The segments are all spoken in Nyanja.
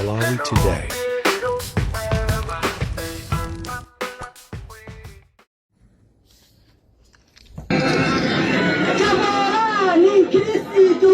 Malawi Today. Tamandani Kristu.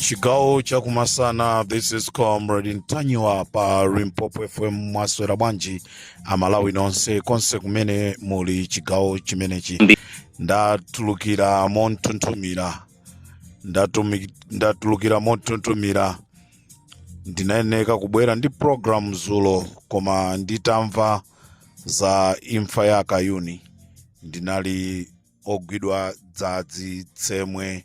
chigawo chakumasana this is comrade ntanyiwa pa Limpopo fm mwaswera bwanji amalawi nonse konse kumene muli chigawo chimenechi ndatulukira monthunthumira ndinayeneka kubwera ndi program zulo koma nditamva za imfa ya akayuni ndinali ogwidwa dzadzi tsemwe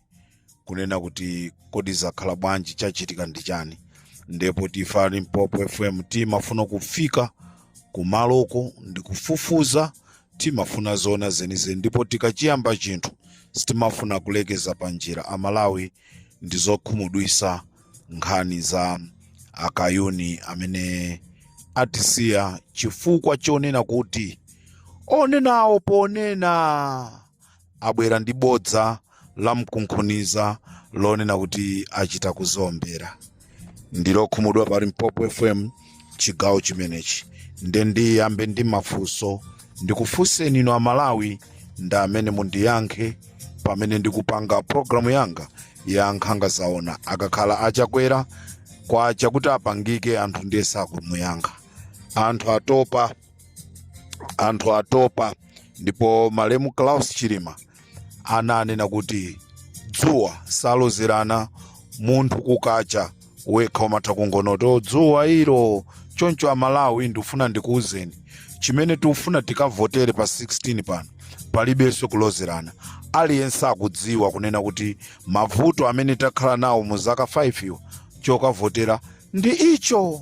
kunena kuti kodi zakhala bwanji chachitika ndi chani ndipo ife a limpopo fm timafuna kufika kumaloko ndikufufuza timafuna zoona zenizeni ndipo tikachiyamba chinthu sitimafuna kulekeza panjira amalawi ndizokhumudwisa nkhani za akayuni amene atisiya chifukwa chonena kuti onenawo ponena abwera ndi bodza la mkunkhuniza lonena kuti achita kudziombera ndili okhumudwa pa limpopo fm chigawo chimenechi nde ndiyambe ndi mafunso ndikufunseni inu amalawi nda amene mundiyankhe pamene ndikupanga programu yanga ya nkhanga zaona akakhala achakwera kwa chakuti apangike anthu ndiye sakumuyankha anthu atopa anthu atopa ndipo malemu klaus chilima ananena kuti dzuwa salozerana munthu kukacha wekha umatha kungonoti "Oh, dzuwa ilo choncho amalawi ndikufuna ndikuwuzeni chimene tikufuna tikavotere pa 16 pano palibenso kulozerana aliyense akudziwa kunena kuti mavuto amene takhala nawo mu zaka 5 izo chokavotera ndi icho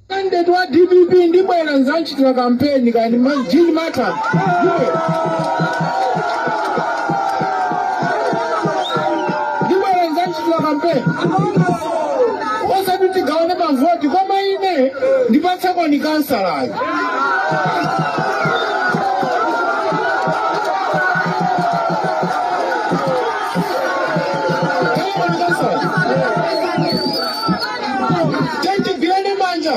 Candidate wa DPP ndibwera ndzamchitira kampeni kani a Jean Mata. Ndibwera ndzamchitira kampeni. Osati tigawane mavoti koma ine ndipatsakoni kansalayo. tandigwirani manja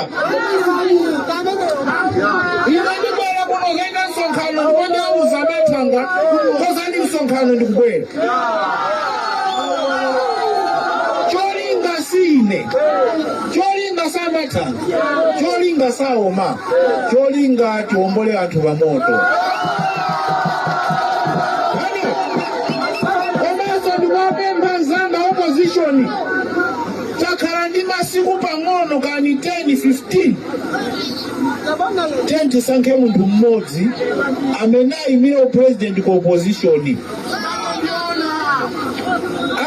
ine ndibwera kuno kudzachita msonkhano ndipo ndauza a Mathanga konzani msonkhano ndikubwera cholinga sine cholinga si a Mathanga cholinga saoma cholinga tiombole anthu pamoto komanso ndikuwapempha anzanga opposition takhala ndi masiku pang'ono kani 10 15 10 tisankhe munthu mmodzi amene ayimire upresident ku opposition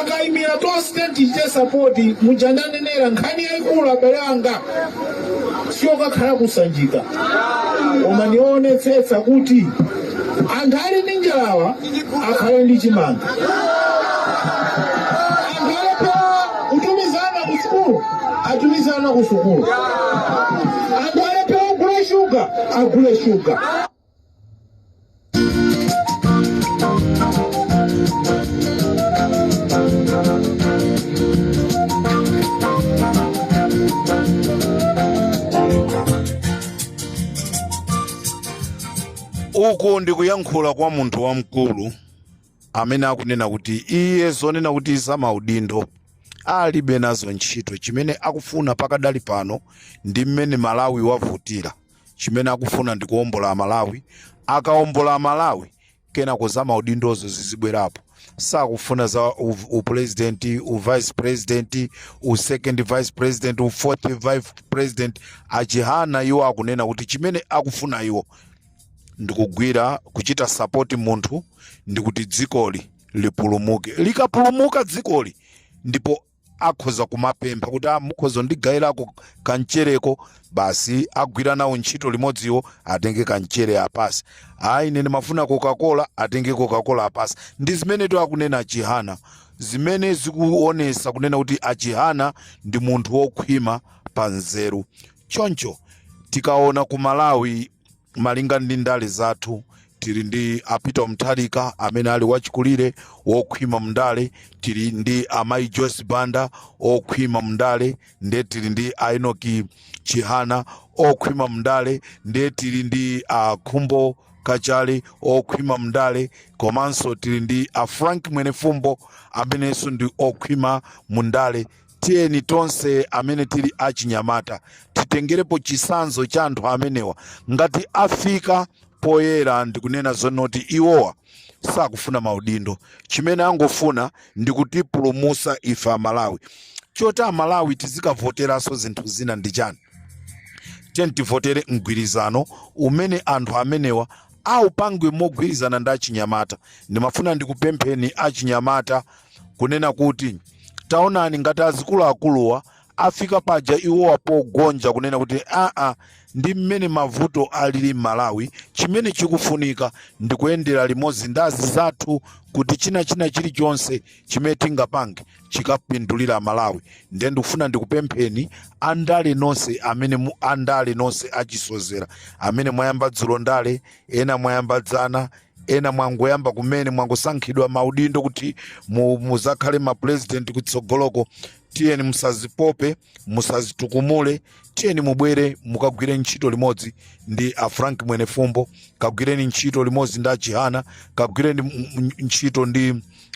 akayimira tonse tichite sapoti muja ndanenera nkhani yayikulu abale anga siyokakhala kusanjika koma ndi kuonetsetsa kuti anthu ali ndi njalawa akhale ndi chimanga anthu alephera kutumiza ana ku sukulu atumize ana ku sukulu anthu alephera kugula shuga agule shuga uku ndi kuyankhula kwa munthu wamkulu amene akunena kuti iye zonena kuti za maudindo alibe nazo ntchito chimene akufuna pakadali pano ndi mmene malawi wavutira chimene akufuna ndi kuombola malawi akaombola malawi kenako za maudindozo zizibwerapo sakufuna za upresident uvice president usecond vice president ufourth vice president achihana iwo akunena kuti chimene akufuna iwo ndikugwira kuchita sapoti munthu ndikuti dzikoli lipulumuke likapulumuka dzikoli ndipo akhoza kumapempha kuti "Ah, mukhoza kundigayirako kamchereko basi agwira nawo ntchito limodziwo atenge kamchere apatse ayi ine ndimafuna coca-cola atenge coca-cola apatse ndi zimenetu akunena achihana zimene zikuonesa kunena kuti achihana ndi munthu wokhwima pa nzeru choncho tikaona ku malawi malinga ndi ndale zathu tili ndi a Peter Mutharika amene ali wachikulire wokhwima mndale tili ndi amayi Joyce Banda okhwima mndale ndiye tili ndi a Enoki Chihana okhwima mndale ndiye tili ndi a Khumbo Kachali okhwima mndale komanso tili ndi a Frank Mwenefumbo amenenso ndi okhwima mndale tiyeni tonse amene tili achinyamata titengerepo chisanzo cha anthu amenewa ngati afika poyera ndikunena zonoti iwowa sakufuna maudindo chimene angofuna ndikutipulumusa ife amalawi choti amalawi tizikavoteranso zinthu zina ndi chani tiyeni tivotere mgwirizano umene anthu amenewa aupange mogwirizana ndi achinyamata ndimafuna ndikupempheni achinyamata kunena kuti taonani ngati azikuluakuluwa afika paja iwowa pogonja kunena kuti aa ndi mmene mavuto alili m'malawi chimene chikufunika ndi kuyendera limodzi ndi azizathu kuti china china chilichonse chimene tingapange chikapindulire malawi ndiye ndikufuna ndikupempheni andale nonse amene mu- andale nonse achisozera amene mwayamba dzulo ndale ena mwayamba dzana ena mwangoyamba kumene mwangosankhidwa maudindo kuti mu- muzakhale mapresident kutsogoloko tiyeni musazipope musazitukumule tiyeni mubwere mukagwire ntchito limodzi ndi a frank mwenefumbo kagwireni ntchito limodzi ndi a chihana kagwireni m- m- ntchito ndi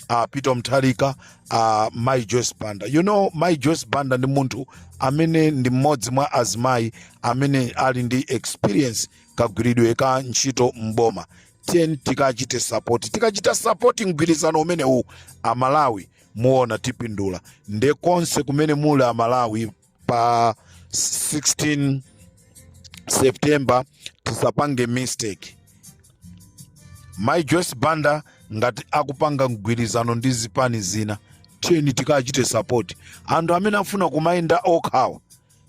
a peter mutharika a mai joyce banda you know mai joyce banda ndi munthu amene ndi mmodzi mwa azimayi amene ali ndi experience kagwiridwe ka ntchito m'boma tiyeni tikachite sapoti tikachita sapoti mgwirizano umenewu amalawi muona tipindula nde konse kumene muli amalawi pa 16 september tisapange mistake mai joyce banda ngati akupanga mgwirizano ndi zipani zina tiyeni tikachite sapoti anthu amene afuna kumayenda okhawa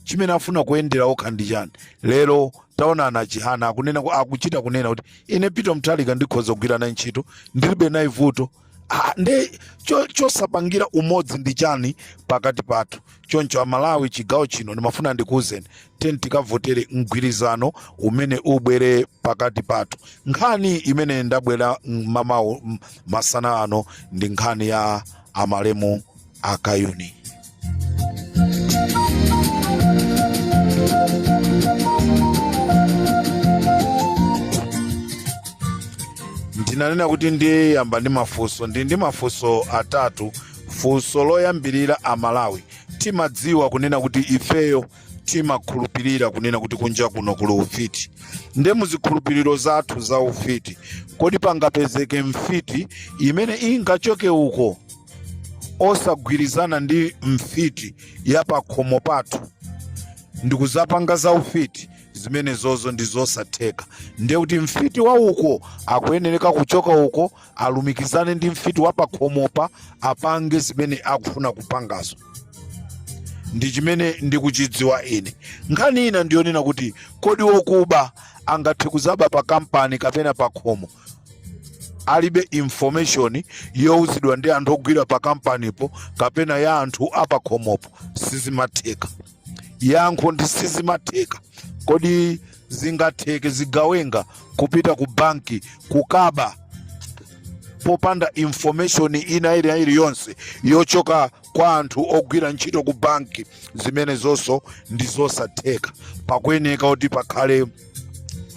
chimene afuna kuyendera okha ndi chani lero taona a chihana akuchita kunena kuti ine peter mutharika ndikhoza kugwira naye ntchito ndilibe naye vuto Ah, nde cho- chosapangira umodzi ndi chani pakati pathu choncho amalawi chigawo chino ndimafuna ndikuwuzeni tiyeni tikavotere mgwirizano umene ubwere pakati pathu nkhani imene ndabwera mmamawo m- masana ano ndi nkhani ya amalemu akayuni ndinanena kuti ndiyamba ndi mafunso ndi ndi mafunso atatu funso loyambirira amalawi timadziwa kunena kuti ifeyo timakhulupirira kunena kuti kunja kuno kuli ufiti nde muzikhulupiriro zathu za ufiti kodi pangapezeke mfiti imene ingachoke uko osagwirizana ndi mfiti ya pakhomo pathu ndikuzapanga za ufiti zimenezo ndi zosatheka ndiye kuti mfiti wa uko akuyenereka kuchoka uko alumikizane ndi mfiti wa pakhomopa apange zimene akufuna kupangazo ndi chimene ndikuchidziwa ine nkhani ina ndiyonena kuti kodi wokuba angathe kuzaba pa kampani kapena pa khomo alibe information youzidwa ndi anthu ogwira pa kampanipo kapena ya anthu apakhomopo sizimatheka yankho ndi sizimatheka kodi zingatheke zigawenga kupita ku banki kukaba popanda information ina ili- ina iliyonse yochoka kwa anthu ogwira ntchito ku banki zimenezonso ndi zosatheka pakuyeneka kuti pakhale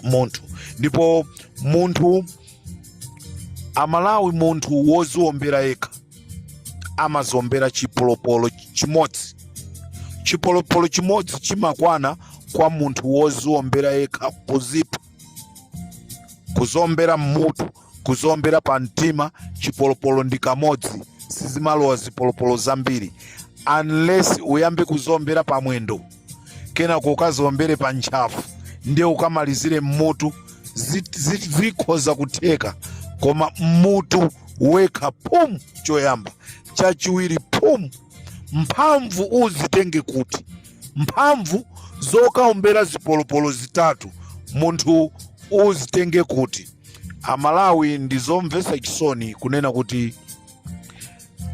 munthu ndipo munthu amalawi munthu woziombera yekha amaziombera chipolopolo chimodzi chipolopolo chimodzi chimakwana kwa munthu woziombera yekha kuzipha kuziombera mmutu kuziombera pa mtima chipolopolo ndi kamodzi sizimalowa zipolopolo zambiri unless uyambe kuziombera pa mwendo kenako ukaziombere pa ntchafu ndiye ukamalizire mmutu zikhoza kutheka koma mmutu wekha phum choyamba chachiwiri phum mphamvu uzitenge kuti mphamvu zokaombera zipolopolo zitatu munthu uzitenge kuti amalawi ndi zomvetsa chisoni kunena kuti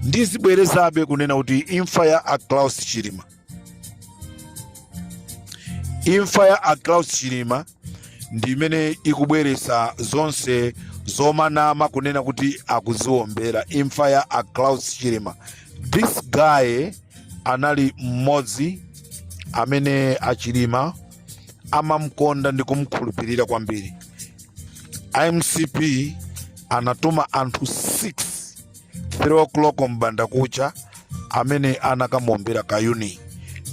ndizibwerezabe kunena kuti imfa ya a Klaus chilima imfa ya a Klaus chilima ndi imene ikubweretsa zonse zomanama kunena kuti akuziwombera imfa ya a Klaus Chilima this guy anali mmodzi amene a Chilima amamkonda ndi kumkhulupirira kwambiri mcp anatuma anthu 6 3 o'clock mbandakucha amene anakamuombera kayuni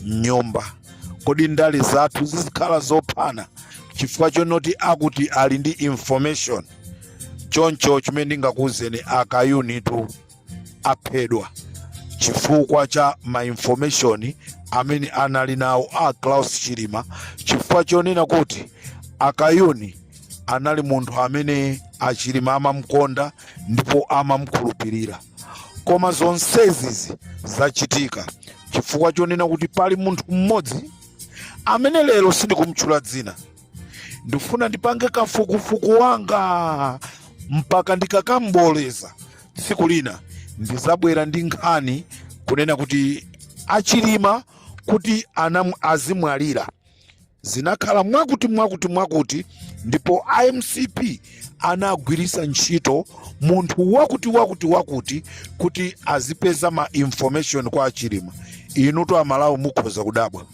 mnyumba kodi ndale zathu zizikhala zophana chifukwa chonoti akuti ali ndi information choncho chimene ndingakuwuzeni akayunitu aphedwa chifukwa cha ma information amene anali nawo a Klaus Chilima chifukwa chonena kuti akayuni anali munthu amene achilima amamkonda ndipo amamkhulupirira koma zonsezizi zachitika chifukwa chonena kuti pali munthu mmodzi amene lero sindikumtchula dzina ndifuna ndipange kafukufuku wanga mpaka ndikakamboleza tsiku lina ndizabwera ndi nkhani kunena kuti achilima kuti anam- azimwalira zinakhala mwakuti mwakuti mwakuti ndipo a mcp anagwiritsa ntchito munthu wakuti wakuti wakuti kuti azipeza ma information kwa achilima inutu amalawi mukhoza kudabwa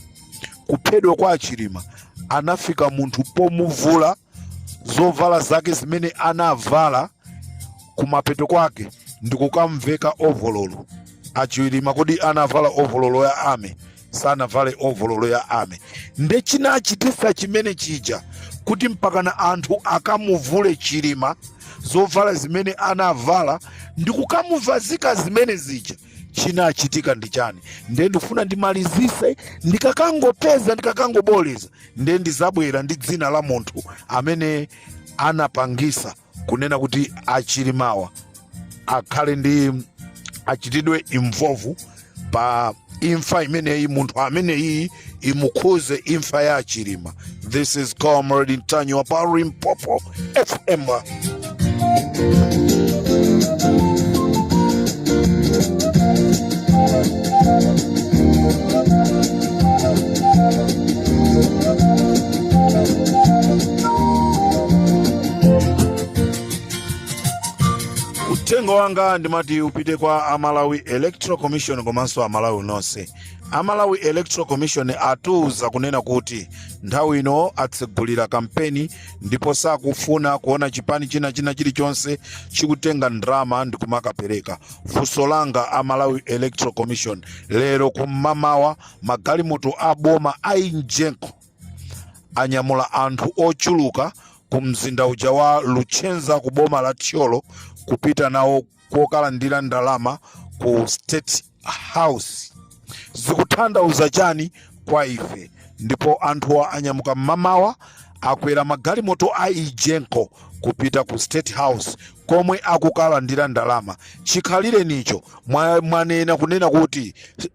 kuphedwa kwa achilima anafika munthu pomuvula zovala zake zimene anavala kumapeto kwake ndikukamveka ovololo achilima kodi anavala ovololo ya army sanavale ovololo ya army nde chinachitisa chimene chija kuti mpakana anthu akamuvule chilima zovala zimene anavala ndikukamuvazika zimene zija chinachitika ndi chani nde ndikufuna ndimalizise ndikakangopeza ndikakangoboleza nde ndizabwera ndi dzina la munthu amene anapangisa kunena kuti achilimawa akhale ndi achitidwe involve pa imfa imeneyi munthu ameneyi imukhuze imfa ya chilima this is comrade ntanyiwa pa limpopo fm uthenga wanga ndimati upite kwa amalawi electoral commission komanso amalawi nonse a malawi electoral commission atiuza kunena kuti nthawi ino atsegulira kampeni ndipo sakufuna kuona chipani china china chilichonse chikutenga ndalama ndi kumakapereka funso langa a malawi electoral commission lero kum'mamawa magalimoto a boma a injenko anyamula anthu ochuluka ku mzinda uja wa luchenza ku boma la thyolo kupita nawo kokalandira ndalama ku state house zikuthandauza chani kwa ife ndipo anthuwa anyamuka mmamawa akwera magalimoto a ijenko kupita ku state house komwe akukalandira ndalama chikhalirenicho mwa- mwanena kunena kuti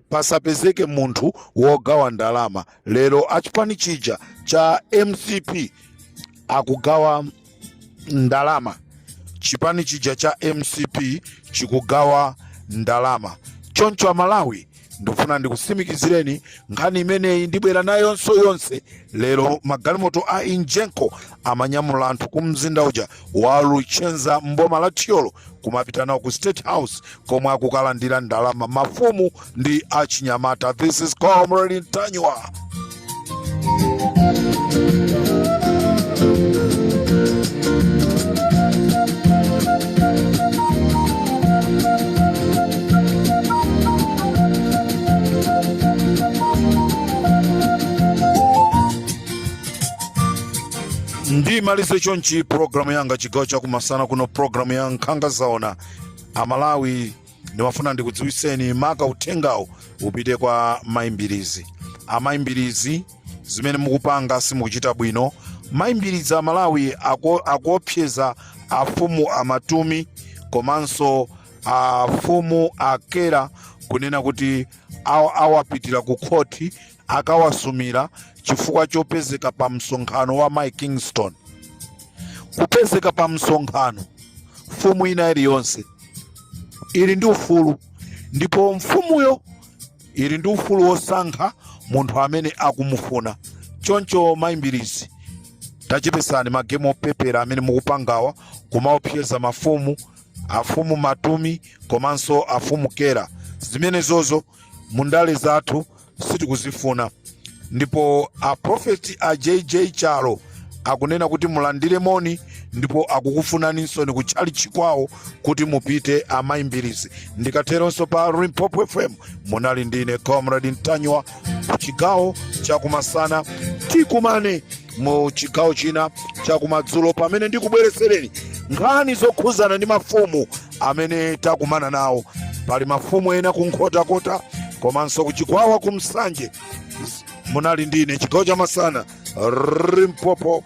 pasapezeke munthu wogawa ndalama lero achipani chija cha mcp akugawa ndalama chipani chija cha mcp chikugawa ndalama choncho amalawi ndikufuna ndikusimikizireni nkhani imeneyi ndibwera nayo yonse yonse lero magalimoto a egenco amanyamula anthu ku mzinda uja wa luchenza mboma la thyolo kumapita nawo ku state house komwe akukalandira ndalama mafumu ndi achinyamata this is comrade ntanyiwa ndimalize chonchi programu yanga chigawo chakumasana kuno programu ya nkhanga zaona amalawi ndimafuna ndikudziwitseni maka uthengawu upite kwa mai mbilizi amai mbilizi zimene mukupanga simukuchita bwino mai mbilizi amalawi ako- akuopseza afumu a matumi komanso afumu a kera kunena kuti awa- awapitira ku khoti akawasumira chifukwa chopezeka pa msonkhano wa Mai Kingston. Kupezeka pa msonkhano, mfumu ina iliyonse ili ndi ufulu, ndipo mfumuyo ili ndi ufulu wosankha munthu amene akumufuna. Choncho Mai Mbilizi, tachepesani magemu opepera amene mukupangawa kumaopseza mafumu afumu matumi komanso afumu kera zimenezozo mundale zathu sitikuzifuna ndipo a prophet a jj chalo akunena kuti mulandire moni ndipo akukufunaninsoni kutchalitchi kwawo kuti mupite amayi mbilizi ndikateronso pa limpopo fm munali ndine comrade ntanyiwa ku chigawo chakumasana tikumane mu chigawo china chakumadzulo pamene ndikubweretsereni nkhani zokhuzana ndi mafumu amene takumana nawo pali mafumu ena ku nkhotakota komanso ku chikwawa ku nsanje munali ndine chigawo cha masana limpopo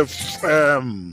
fm